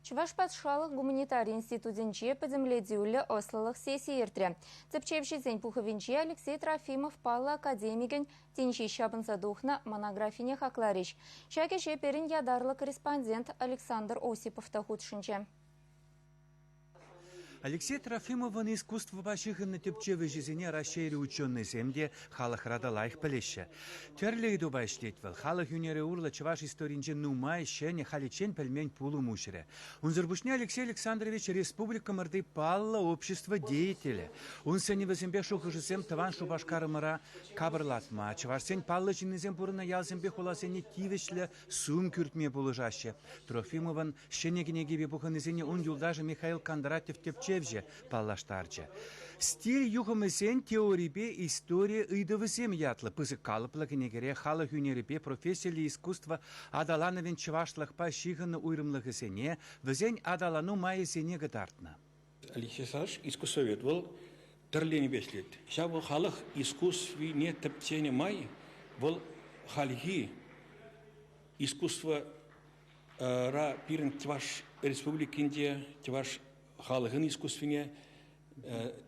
Чӑваш патшалӑх гуманитари институтӗнче пӗтӗмлетӳллӗ ӑслӑлӑх сесси иртрӗ. Тӗпчевҫӗсен пухӑвӗнче Алексей Трофимов паллӑ академикӗн тӗнчи ҫапӑнса тухнӑ монографине хакларӗҫ. Ҫак ӗҫе пирӗн ятарлӑ корреспондент Александр Осипов та хутшӑнчӗ. Алексей Трофимовӑн искусствӑпа ҫыхӑннӑ тӗпчев ӗҫӗсене Раҫҫейри ученӑйсем те халӑхра та лайӑх пӗлеҫҫӗ. Тӗрлӗ ыйтупа ӗҫлет вӑл. Халӑх ӳнерӗ урлӑ чӑваш историйӗнче нумай ҫӗнӗ, халиччен пӗлмен пулӑм уҫрӗ. Унсӑр пуҫне Алексей Александрович республикӑмӑрти паллӑ общество деятелӗ. Ун сӗнӗвӗсемпе шухӑшӗсем тӑван Шупашкарӑмӑра капӑрлатма, чӑвашсен паллӑ ҫыннисем пурӑннӑ ялсемпе хуласене тивӗҫлӗ сум кӳртме пулӑшаҫҫӗ. Трофимовӑн Ҫӗнӗ кӗнекепе пухӑннисене ун юлташӗ Михаил Кондратьев тӗпчевҫӗ паллаштарчӗ. Стиль юхӑмӗсен теорипе истори ыйтӑвӗсем ятлӑ пысӑк калӑплӑ кӗнекере халӑх ӳнерӗпе профессиллӗ искусство аталанӑвӗн чӑвашлӑхпа ҫыхӑннӑ уйрӑмлӑхӗсене, вӗсен аталану майӗсене кӑтартнӑ. Алексей Савич искусствовед вӑл тӗрлӗ енӗпе ӗҫлет. Ҫавӑ халӑх искусствине тӗпченӗ май вӑл хальхи искусство ра пирӗн Чӑваш Республикин те, Чӑваш халӑхӗн искусствине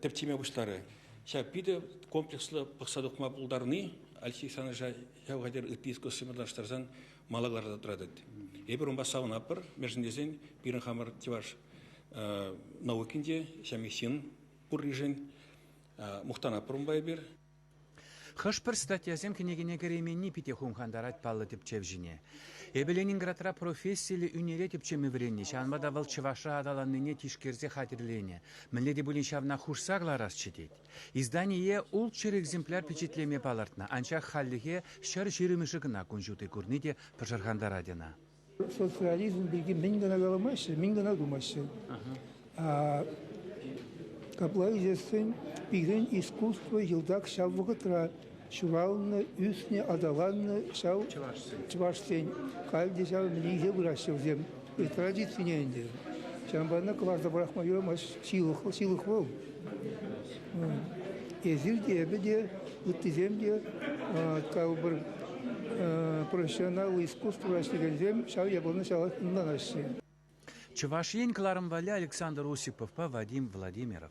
тӗп теме пуҫларӗ. Ҫав питӗ комплекслӑ пӑхса тухма пултарни Алексей Александровича ҫав хатӗр ытти искусствӑпа танлаштарсан мала кӑларса тӑратать. Эпир унпа савӑнатпӑр, мӗншӗн тесен пирӗн хамӑр чӑваш наукин те, ҫамье ҫын пурришӗн мухтанатпӑр унпа эпир. Хӑш-пӗр статьясем кӗнекене кӗрейменни питӗ хумхантарать паллӑ тӗпчев ҫине. Эпӗ Ленинградра профессиллӗ ӳнере тӗпчеме вӗреннӗ, ҫавӑнпа та вӑл чӑвашра аталаннине тишкерсе хатӗрленӗ. Мӗнле те пулин ҫавна хушса кӑларасчӗ тет. Издание ултҫӗр экземпляр пичетлеме палӑртнӑ, анчах хальлӗхе ҫӗр ҫирӗмӗшӗ кӑна кун ҫути курни те пӑшӑрхантарать ӑна. социализм пирки мӗн кӑна каламаҫҫӗ, мӗн кӑна тумаҫҫӗ. Капла ӳсессӗн пирӗн искусство йӑлтах ҫав вӑхӑтра ҫуралнӑ, ӳснӗ, аталаннӑ ҫав чӑвашсен. Халь те ҫав мӗнле пыраҫҫӗ вӗсем традицине ӗнтӗ. Ҫавӑнпа ӑна кӑларса пӑрахма юрамасть. Ҫылӑх, ҫылӑх вӑл. Эсир те, эпӗ те, ыттисем те, пӗр профессионал искусство вӗрентекенсем ҫав япалана ҫавах ӑнланаҫҫӗ. Чӑваш Ен кӑларӑм валли Александр Осиповпа Вадим Владимиров.